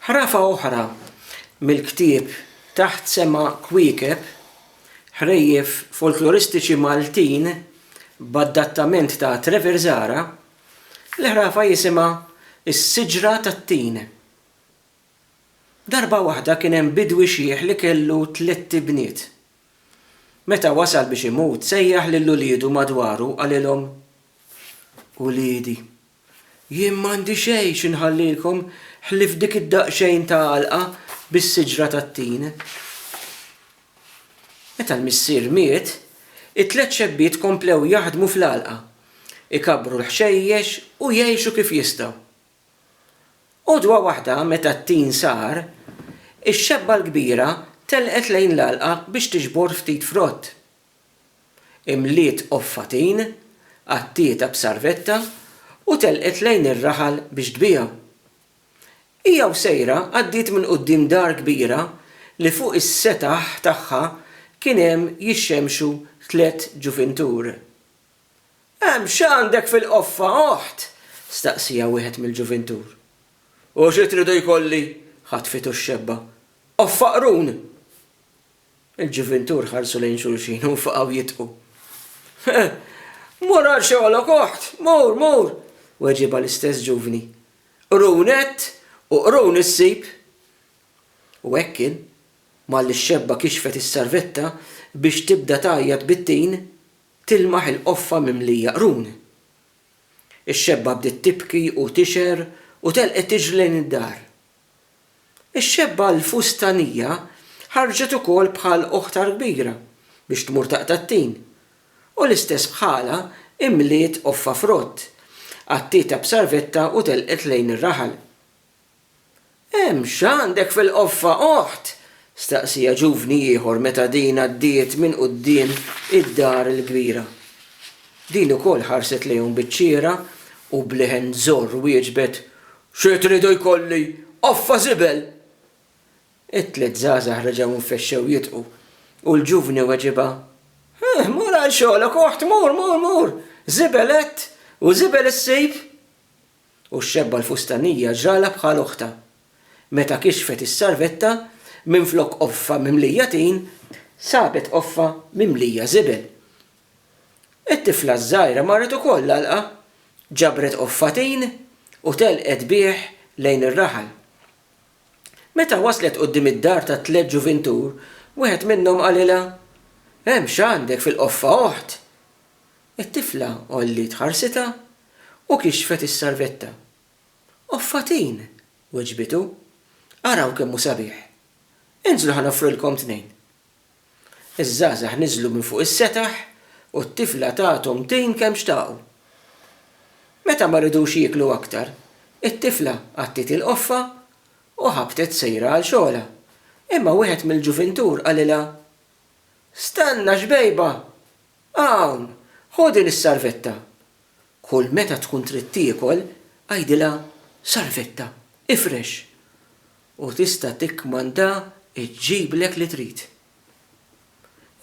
Ħrafa oħra mill-ktieb Taħt Sema Kwiekeb, Ħrejjef folkloristiċi Maltin b'adattament ta' Trevor Zahra, l-ħrafa jisimha Is-Siġra tat-Tin. Darba waħda kien hemm bidwi xiħ li kellu tlett ibniet. Meta wasal biex imut sejjaħ lil uliedu madwaru u qalilhom, Uliedi! Jien m'għandi xejn xi nħallilkom ħlief dik id-daqsxejn ta' għalqa bis-siġra tat-tin. Meta l-missier miet, it-tliet xebbiet komplew jaħdmu fl-għalqa, ikabbru l-ħxejjex u jgħixu kif jistgħu. Għodwa waħda meta t-tin sar, ix-xebba l-kbira telqet lejn l-għalqa biex tiġbor ftit frott. imliet qoffatin, għattietha b'sarvetta u telqet lejn ir-raħal biex tbiegħu. Hija u sejra għaddiet minn quddiem dar kbira li fuq is-setaħ tagħha kien hemm jixxemxu tliet ġuvintur. Hemm x'għandek fil-qoffa, oħt? staqsieha wieħed mill-ġuvintur. U xi tridu jkolli? ħatfitu x-xebba. Qoffa qrun! Il-ġuvintur ħarsu lejn xulxin u nfaqgħu jidħku. He! Mur għal xogħlok, oħt! Mur, mur! weġibha l-istess ġuvni. Qrun għedt u qrun issib! U hekk kien, malli x-xebba kixfet is-sarvetta biex tibda tgħajjat bit-tin, tilmaħ il-qoffa mimlija qrun. Ix-xebba bdiet tibki u tixher u telqet tiġri lejn id-dar. Ix-xebba l-fustanija ħarġet ukoll bħal oħtha l-kbira biex tmur taqta' t-tin, u l-istess bħalha imliet qoffa frott, għattietha b'sarvetta u telqet lejn ir-raħal. Hemm x'għandek fil-qoffa, oħt? staqsieha ġuvni ieħor meta din għaddiet minn quddiem id-dar il-kbira. Din ukoll ħarset lejhom biċ-ċiera u b'leħen żorr wieġbet, Xi tridu jkolli qoffa żibel? It-tliet żgħażagħ reġgħu nfexxew jidħqu u l-ġuvni weġibha, Huh, mur għal xogħlok, oħt, mur, mur, mur! Żibel għedt u żibel issib! U x-xebba l-fustanija ġralha bħal oħtha. Meta kixfet is-sarvetta, minflok qoffa mimlija tin, sabet qoffa mimlija żibel. It-tifla ż-żgħira marret ukoll l-għalqa, ġabret qoffatin u telqet bih lejn ir-raħal. Meta waslet quddiem id-dar tat-tliet ġuvintur, wieħed minnhom qalilha, Hemm x'għandek fil-qoffa, oħt? It-tifla għolliet ħarsitha u kixfet is-sarvetta. Qoffatin! weġbitu. Araw kemm hu sabiħ! Inżlu ħa noffrilkom tnejn. Iż-żgħażagħ niżlu minn fuq is-setaħ u t-tifla tathom tin kemm xtaqu. Meta ma ridux jieklu aktar, it-tifla għattiet il-qoffa u ħabtet sejra għal xogħolha, imma wieħed mill-ġuvintur qalilha, Stenna, xbejba! Hawn, ħu din is-sarvetta! Kull meta tkun trid tiekol, għidilha Salvetta, ifrex! u tista' tikkmandha ġġiblek li trid.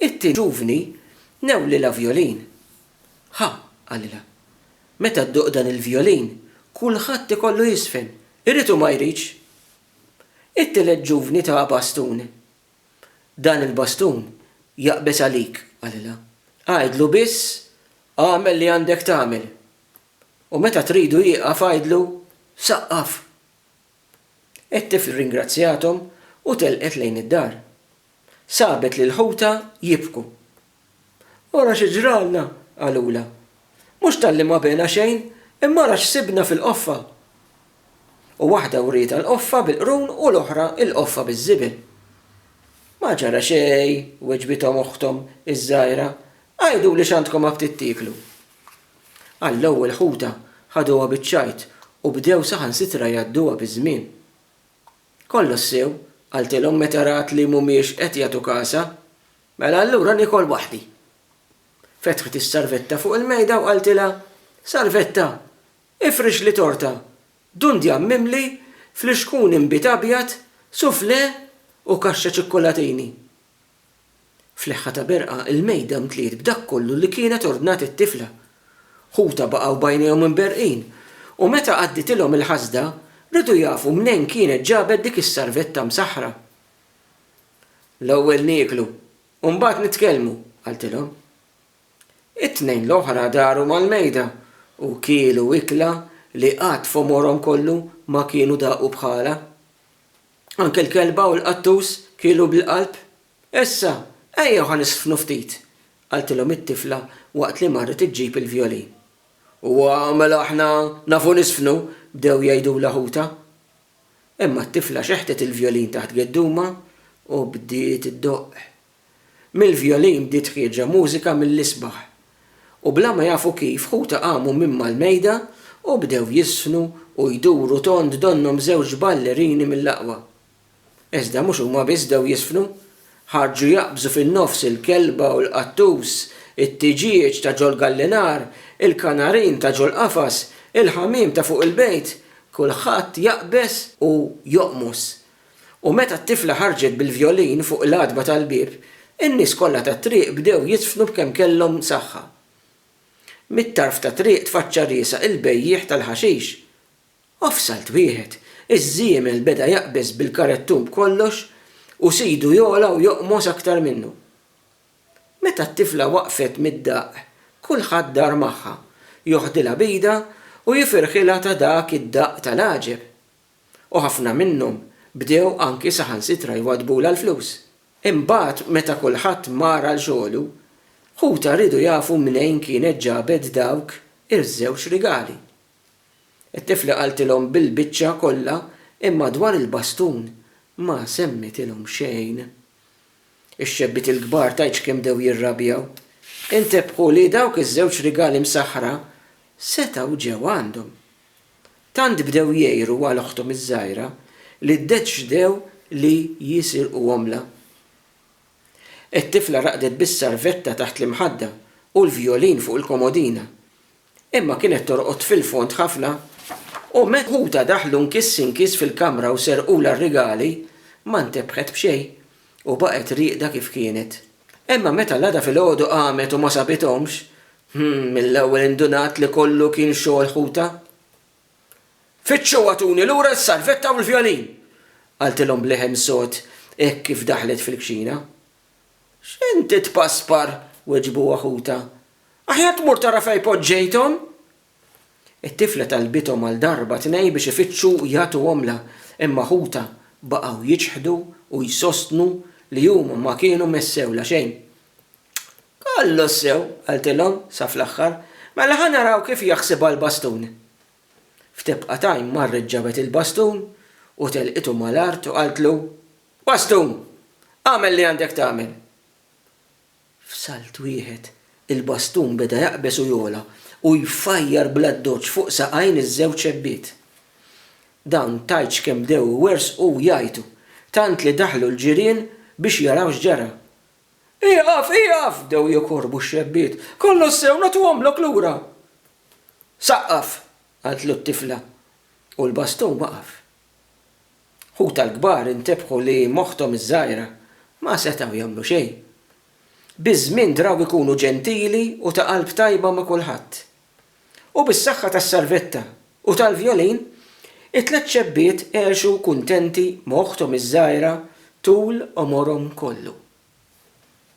It-tieni ġuvni newlilha vjolin. Ħa, qalilha, meta ddoqq dan il-vjolin, kulħadd ikollu jiżfen, irid u ma jridx! It-tielet ġuvni taha bastun. Dan il-bastun jaqbeż għalik, qalilha. Għidlu biss, 'Agħmel li għandek tagħmel. U meta tridu jieqaf għidlu, 'Saqqaf! It-tifl ringrazzjathom u telqet lejn id-dar. Sabet lil ħutha jibku. Ara xi ġralna, qalulha. Mhux talli ma bena xejn, imma ara x'sibna fil-qoffa! U waħda wrietha l-qoffa bil-qrun u l-oħra l-qoffa biż-żibel. Ma ġara xejn, weġbithom oħthom iż-żgħira. Għiduli x'għandkom ma btiet tieklu. Għall-ewwel ħuta ħaduha biċ-ċajt u bdew saħansitra jgħadduha biż-żmien. Kollox sew, qaltilhom meta rat li m'humiex qed jagħtu kasha. Mela allura niekol waħdi. Fetħet is-sarvetta fuq il-mejda u qaltilha, Sarvetta, ifrixli torta, dundjan mimli, flixkun inbid abjad, suflè u kaxxa ċikkulatini. Fleħħa ta' berqa, il-mejda mtliet b'dak kollu li kienet ordnat it-tifla. Ħutha baqgħu b'għajnejhom imberrqin u meta għadditilhom il-ħasda, riedu jafu mnejn kienet ġabet dik is-sarvetta msaħħra. L-ewwel nieklu, u mbagħad nitkellmu, qaltilhom. It-tnejn l-oħra daru mal-mejda u kielu ikla li qatt f'għomorhom kollu ma kienu daqu bħalha. Anke l-kelba u l-qattus kielu bil-qalb. Issa, ejjew ħa nisfnu ftit, qaltilhom it-tifla waqt li marret iġġib il-vjolin. Huwa, mela aħna nafu nisfnu, bdew jgħidulha ħutha. Imma t-tifla xeħtet il-vjolin taħt geddumha u bdiet iddoqq. Mill-vjolin bdiet ħierġa mużika mill-isbaħ. U bla ma jafu kif ħutha qamu minn mal-mejda u bdew jiżfnu u jduru tond donnhom żewġ ballerini mill-aqwa. Iżda mhux huma biss bdew jiżfnu, Ħarġu jaqbżu fin-nofs il-kelba u l-qattus, it-tiġieġ ta' ġol-gallinar, il-kanarin ta' ġol-qafas, il-ħamiem ta' fuq il-bejt, kulħadd jaqbeż u joqmos. U meta t-tifla ħarġet bil-vjolin fuq l-għatba tal-bieb, in-nies kollha tat-triq bdew jidfnu b'kemm kellhom saħħa. Mit-tarf tat-triq tfaċċa riesaq il-bejjiegħ tal-ħaxix. U f'salt wieħed, iż-żiemel beda jaqbeż bil-karettun b'kollox u sidu jogħla u joqmos aktar minnu. Meta t-tifla waqfet mid-daqq, kulħadd dar magħha, joħdilha b'idha u jifirħilha ta' dak id-daqq tal-għaġeb. U ħafna minnhom bdew anki saħansitra jwaddbulha l-flus. Imbagħad meta kulħadd mar għal xogħlu, ħutha riedu jafu mnejn kienet ġabet dawk iż-żewġ rigali. It-tifla qaltilhom bil-biċċa kollha imma dwar il-bastun ma semmitilhom xejn. Ix-xebbiet il-kbar tgħidx kemm bdew jirrabjaw. Intebħu li dawk iż-żewġ rigali msaħħra setgħu ġew għandhom. Tant bdew jgħiru għal oħthom iż-żgħira li ddeċdew li jisirquhomlha. It-tifla raqdet bis-sarvetta taħt l-imħadda u l-vjolin fuq il-komodina. Imma kienet torqod fil-fond ħafna u meta ħutha daħlu nkiss inkiss fil-kamra u serqulha r-rigali, ma ntebħet b'xejn u baqgħet rieqda kif kienet. Imma meta l-għada filgħodu qamet u ma sabithomx, hm, mill-ewwel indunat li kollu kien xogħol ħutha. Fittxu u agħtuni lura s-sarvetta u l-vjolin! qaltilhom b'leħen sod hekk kif daħlet fil-kċina. X'int tpaspar? weġbuha ħutha. Aħjar tmur tara fejn poġġejthom! It-tifla talbithom għal darba tnej biex ifittxu u jagħtuhomlha, imma ħutha baqgħu jiċħdu u jsostnu li huma ma kienu messewlha xejn. Kollox sew, qaltilhom sa fl-aħħar, mela ħa naraw kif jaħsibha l-bastun. F'tebqa time marret ġabet il-bastun u telqitu mal-art u qaltlu, Bastun! Agħmel li għandek tagħmel! F'salt wieħed, il-bastun beda jaqbeż u jogħla u jfajjar bl-addoċċ fuq saqajn iż-żewġ xebbiet. Dawn tgħidx kemm bdew iwerżqu u jgħajtu, tant li daħlu l-ġirien biex jaraw x'ġara. Ieqaf, ieqaf! bdew jikorrbu x-xebbiet. Kollox sew, nagħtuhomlok lura! Saqqaf! qaltlu t-tifla, u l-bastun waqaf. Ħutha l-kbar intebħu li m'oħthom iż-żgħira ma setgħu jagħmlu xejn. Biż-żmien draw ikunu ġentili u ta' qalb tajba ma' kulħadd. U bis-saħħa tas-sarvetta u tal-vjolin, it-tliet xebbiet għexu kuntenti m'oħthom iż-żgħira tul għomorhom kollu.